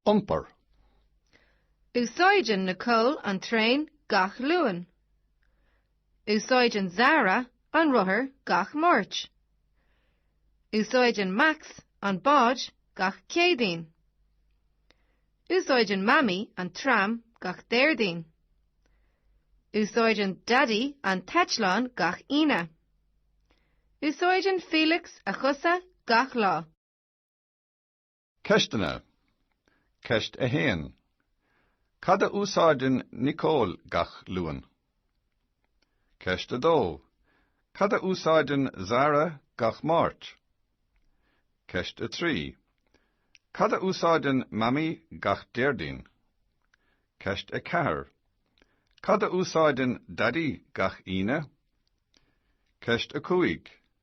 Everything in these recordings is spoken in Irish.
Iompar. Úsáideann Nicole an traein gach Luan. Úsáideann Zara an rothar gach Máirt. Úsáideann Max an bád gach Céadaoin. Úsáideann Mamaí an tram gach Déardaoin. Úsáideann Daidí an t-eitleán gach Aoine. Úsáideann Felix a chosa gach lá. Ceisteanna Ceist 1 Cad a úsáideann Nicole gach Luan? Ceist 2 Cad a úsáideann Zara gach Máirt? Ceist 3 Cad a úsáideann Mamaí gach Déardaoin? Ceist 4 Cad a úsáideann Daidí gach Aoine? Ceist 5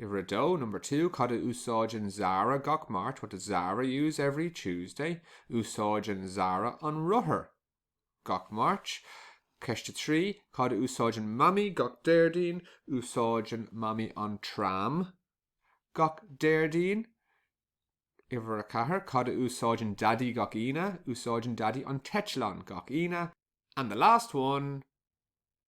Uimhir a dó, Number two, Cad a úsáideann Zara gach Máirt? What does Zara use every Tuesday? Úsáideann Zara an rothar gach Máirt. Ceist a trí, Cad a úsáideann Mamaí gach Déardaoin? Úsáideann Mamaí an tram gach Déardaoin. Uimhir a ceathair, Cad a úsáideann Daidí gach Aoine? Úsáideann Daidí an t-eitleán gach Aoine. And the last one.